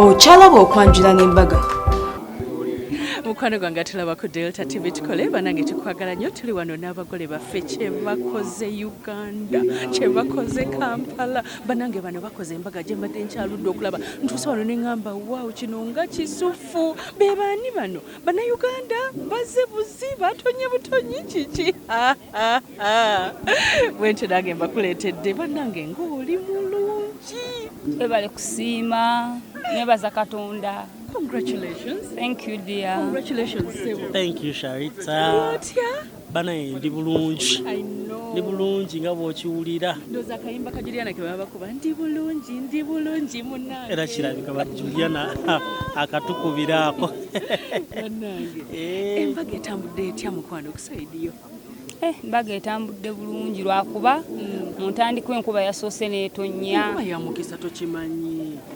okyalaba okwanjula n'embaga mukwano gwange atulaba ku delta tv tukole banange tukwagala nnyo tuli wano n'abagole baffe kyebakoze uganda kyebakoze kampala banange bano bakoze embaga gyembadde nkyaludde okulaba ntuusa wano neŋamba waw kino nga kisufu bebaani bano banauganda baze buzi batonye butonyi kiki Ah, ah. bwentyo nange mbakuleetedde bannange ng'oli mulungi webale kusiima nebaza katonda congratulations thank you dear congratulations sebo thank you sharita otya banaye ndi bulungi ndi bulungi nga bwokiwulira ndoza akayimba ka juliana kebabakuba ndi bulungi ndi bulungi munange era kirabika ba juliana akatukubiraako banange eh. embaga etambudde etya mukwano Eh, mbaga etambudde bulungi lwakuba mm. mu ntandikwa enkuba yasoose neetonnya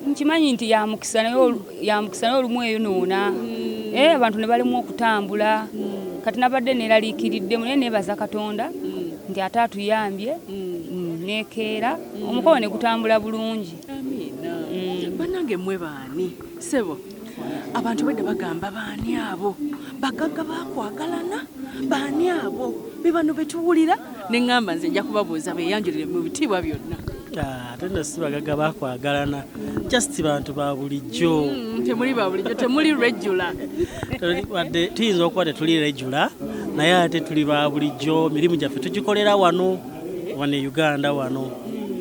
nkimanyi nti yamukisa naye olumu eyo noona mm. eh, abantu ne balimu okutambula mm. kati nabadde neeraliikiriddemu naye neebaza katonda nti ate atuyambye nekeera omukolo ne gutambula bulungi banange mwe baani sebo abantu bedda bagamba baani abo bagagga bakwagalana baani abo be bano betuwulira ne ŋŋamba nze nja kubabuuza beyanjulire mu bitiibwa byonna ah, ate nno si bagagga bakwagalana just bantu ba bulijjo mm, temuli ba bulijjo temuli regula wadde tuyinza okuba tetuli regula naye ate tuli ba bulijjo mirimu gyaffe tugikolera wano wano e uganda wano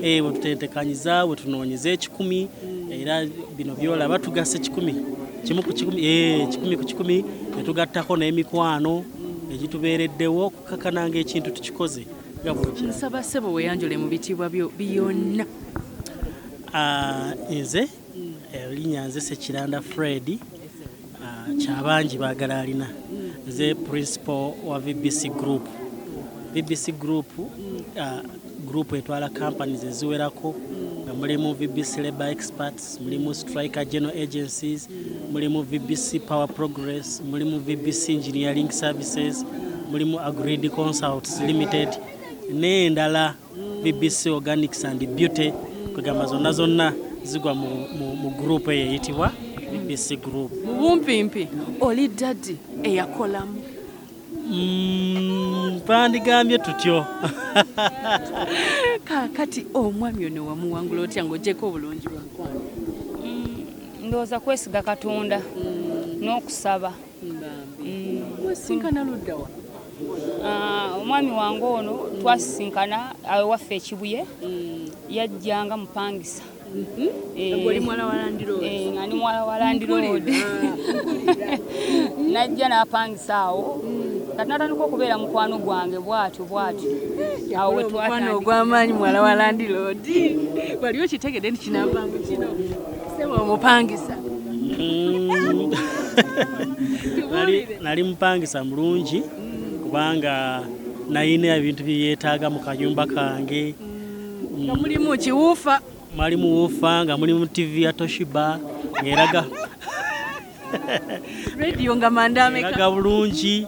eh, bwetutentekanyiza bwetunoonyeza ekikumi era bino byolaba tugasa ekikumi kimu ku kikumi eh, kikumi ku kikumi ne tugattako n'emikwano egitubeereddewo okukakana ng'ekintu tukikoze nga bwnsaba ssebo weyanjule mu bitiibwa byo byonna ah, nze elinya eh, nze sekiranda fredi ah, kyabangi bagala alina nze principal wa vbc group vbc group ah, group etwala companies eziwerako nga mulimu vbc labor experts mulimu striker general agencies mulimu vbc power progress mulimu vbc engineering services mulimu agreed consults limited n'endala BBC Organics and Beauty kwegamba zonna zonna zigwa mu, mu, mu group eyo eyitibwa BBC group. Mu bumpimpi oli daddy eyakolamu mm, bandigambye tutyo kakati omwami ono wamuwangula otya ng'ogyeko obulungi bwamukwano mm, ndowooza kwesiga katonda mm. n'okusaba Ah, omwami wange ono twasisinkana awewaffe ekibuye mm. yajja nga mupangisa mhm. eh, nga ndi muwala wa landiroodi eh, ah. najja n'apangisa awo mm. kati natandika okubeera mukwano gwange bwatyo bwatyo eh, awo wetwatandika ogw'amaanyi muwala wa landiroodi wali okitegedde nti kinampangu kino omupangisa mm. nali mupangisa mulungi kubanga nayina ebintu byeyetaaga mu kayumba kange mm. nga mulimu kiwuufa mwalimu wuufa nga mulimu tivi ya toshiba ngeraga radio nga manda ameka laga bulungi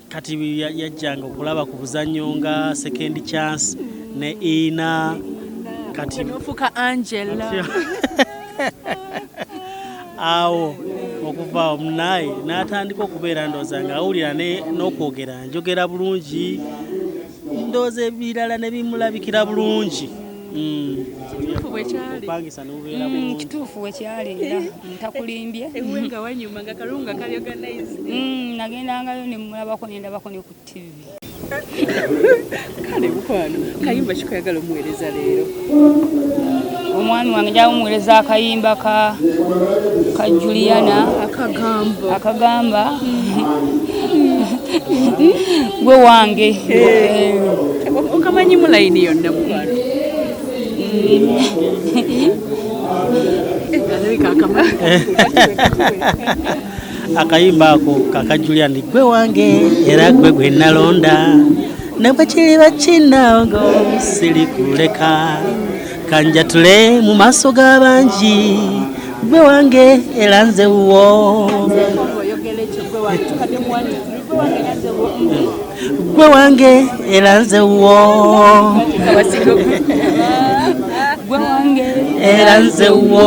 kati yajjanga okulaba ku buzannyo nga second chance ne ina kati nofuka angela awo okuva omunaye n'atandika okubeera ndooza nga awulira n'okwogera njogera bulungi Ndowooza ebirala ne bimulabikira bulungi. Mm. Kituufu bwe kyali. Opangisa n'obeera mm, bulungi. Kituufu bwe kyali era ntakulimbye. Ewe nga wanyuma nga kalungu nga kali organized. Mm, nagendangayo ne mulabako ne ndabako ne ku TV. Kale mukwano kayimba kikoyagala omuweereza leero. omwami wange gyawumuwereza akayimba ka ka juliana akagamba gwe wange okamanyi mulayini yonna mukwano akayimba ako kaka julian gwe wange era gwe gwe nalonda ne bwe kiriba kinnaogo sirikuleka kanjatule mu maaso g'abangi gwe wange era nze wuwo gwe wange era nze wuwo era nze wuwo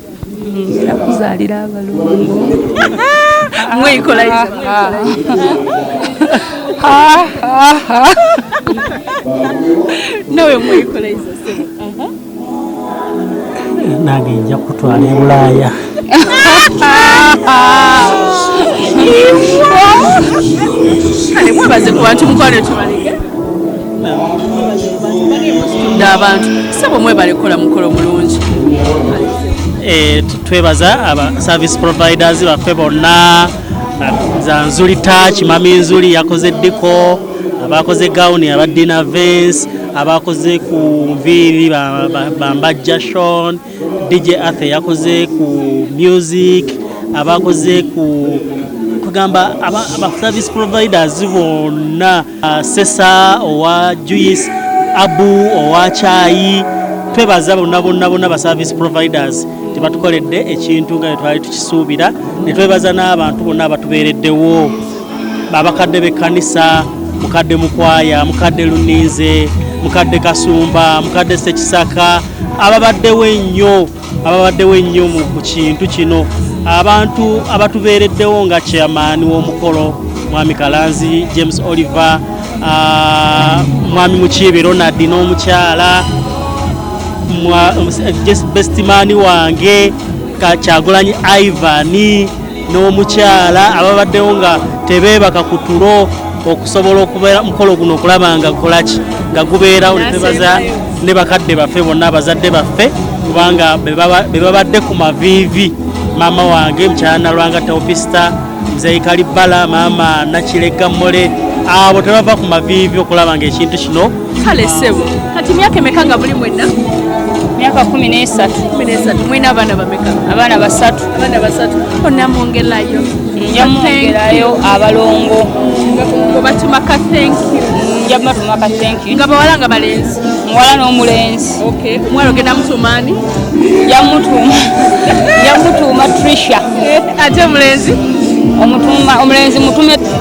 nakuzaalira abalongo mwekolaiza nawe mwekolaiza nange nja kutwala ebulaaya kale mwebaze ku bantu mukwano tubaleke abantu sebo mwebale kukola mukolo mulungi eh, twebaza aba service providers baffe bonna za nzuli touch mami nzuli yakoze diko abakoze gawuni aba dina vens abakoze ku nviiri bambajja shon dj athe yakoze ku music abakoze ku kugamba aba service providers bonna Uh, sesa owa juice abu owa kyayi twebaza bonna bonna bonna ba service providers tebatukoledde ekintu nga twali tukisuubira netwebaza n'abantu bonna abatubeereddewo abakadde b'ekkanisa mukadde mukwaya mukadde luninze mukadde kasumba mukadde sekisaka ababaddewo ennyo ababaddewo ennyo ku kintu kino abantu abatubeereddewo nga chairman w'omukolo mwami kalanzi james oliver ah, mwami mukiibi ronald n'omukyala bestimani wange kyagulanyi ivani n'omukyala ababaddewo nga tebeebaka ku tulo okusobola okubeera mukolo guno okulaba nga kolaki nga gubeera olitebaza ne bakadde baffe bonna abazadde baffe kubanga be babadde ku maviivi maama wange mukyala nalwanga teopista mzeyi kalibbala maama nakiregga mole abo tebava ku maviivi okulaba nga ekintu kino kale sebo kati myaka emeka nga buli mwena myaka kumi nesatu kumi nesatu mwena abaana bameka abaana basatu abaana basatu onamwongerayo njamwongerayo abalongo obatuma ka thank you njabatuma ka thank you nga bawala nga balenzi muwala n'omulenzi okay muwala ogenda mutumaani yamutuuma yamutuuma trisha eh, ate omulenzi omutuuma omulenzi mutume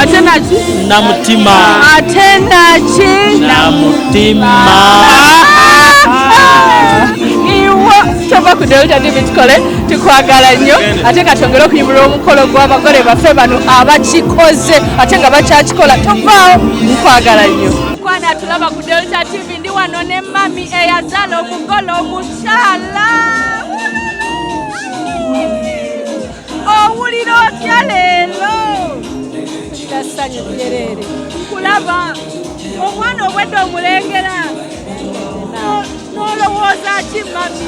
ate naki namutima ate naki namutima iwa tova ku delta tv tukole tukwagala nnyo ate nga twongere okuyimirira omukolo gw'abagole baffe bano abakikoze ate nga bakyakikola tovaawo nkwagala nnyo kwana tulaba ku delta tv ndi wano ne mami eyazala omugole omukyala owulira otya leero tassanyu jereere nkulaba omwana obwedde omulengera nolowooza ki mami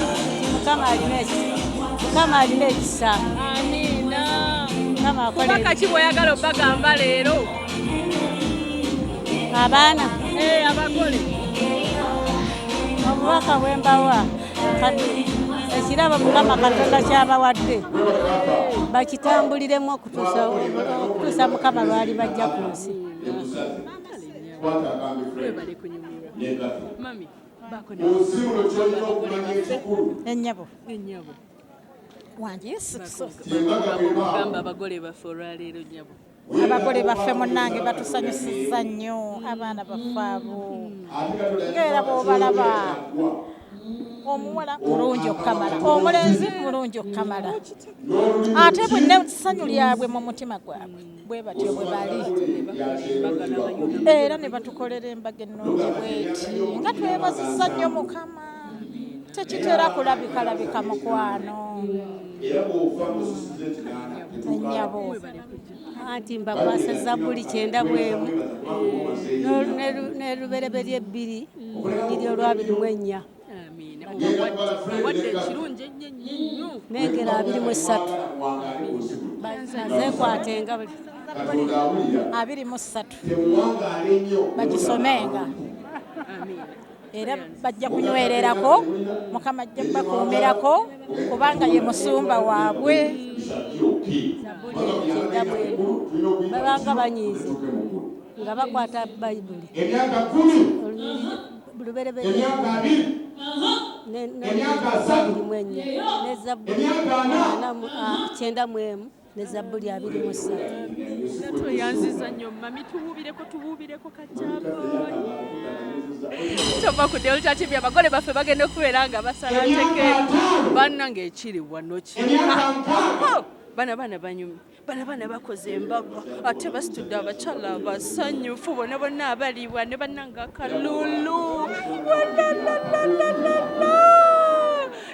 mukama alina ekisa mukama alina ekisa amiina mukama akola kaki bwoyagala obagamba leero abaana eh, abagole obubaka bwembawa kati ekirabo mukama katonda kyabawadde bakitambuliremu okutuusa mukama lwali bajja ku nsi enyabo wange yesu kristo abagole baffe olwaleero nyabo abagole baffe munange batusanyusiza nnyo abaana baffe abo ngaera bwobalaba omuwala mulungi okukamala omulenzi mulungi okukamala ate bwenne ssanyu lyabwe mu mutima gwabwe bwe batyo bwe bali era ne batukolera embaga ennungi bweti nga twebazisa nnyo mukama tekitera kulabikalabika mukwano nyabo anti mbakwasa zabbuli kyenda bwemu nerubereberye ebbiri nyiri olwabiri mu ennya nengera abiri mu essatu zekwatenga abiri mu ssatu bagisomenga era bajja kunywererako mukama ajja kubakuumirako kubanga ye musumba waabwe babanga banyiizi nga bakwata bayibuli emyaka kumi emyaka abiri emyaka asatu emyaka ana kyenda mu emu ne zabbuli abiri mu ssatu tweyanziza nnyo mami tuwuubireko tuwuubireko kajaboyi tova ku delta tv abagole baffe bagenda okubeera nga basala teke bannange ekiri wano kiri bana baana banyumi bana baana bakoze embaga ate basitudde abakyala abasanyufu bona bonna abaliibwa ne bannange akalulu walalalalalalala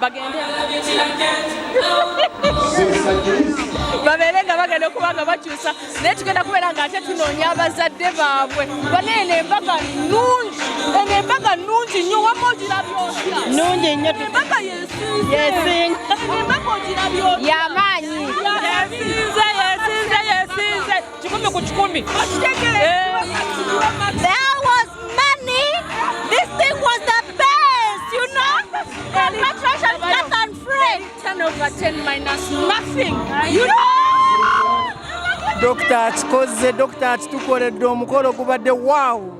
bagende babeere nga bagenda okuba nga bakyusa naye tugenda kubeera nga ate tunoonya abazadde baabwe bona eno embaga nungi eno embaga nungi nnyo wama ogirabyotya nungi nnyo embaga yesinga embaga ogirabyotya yamaanyi yesinze yesinze yesinze kikumi ku kikumi Dokita akikozze, dokita akitukoledde omukolo gubadde wow.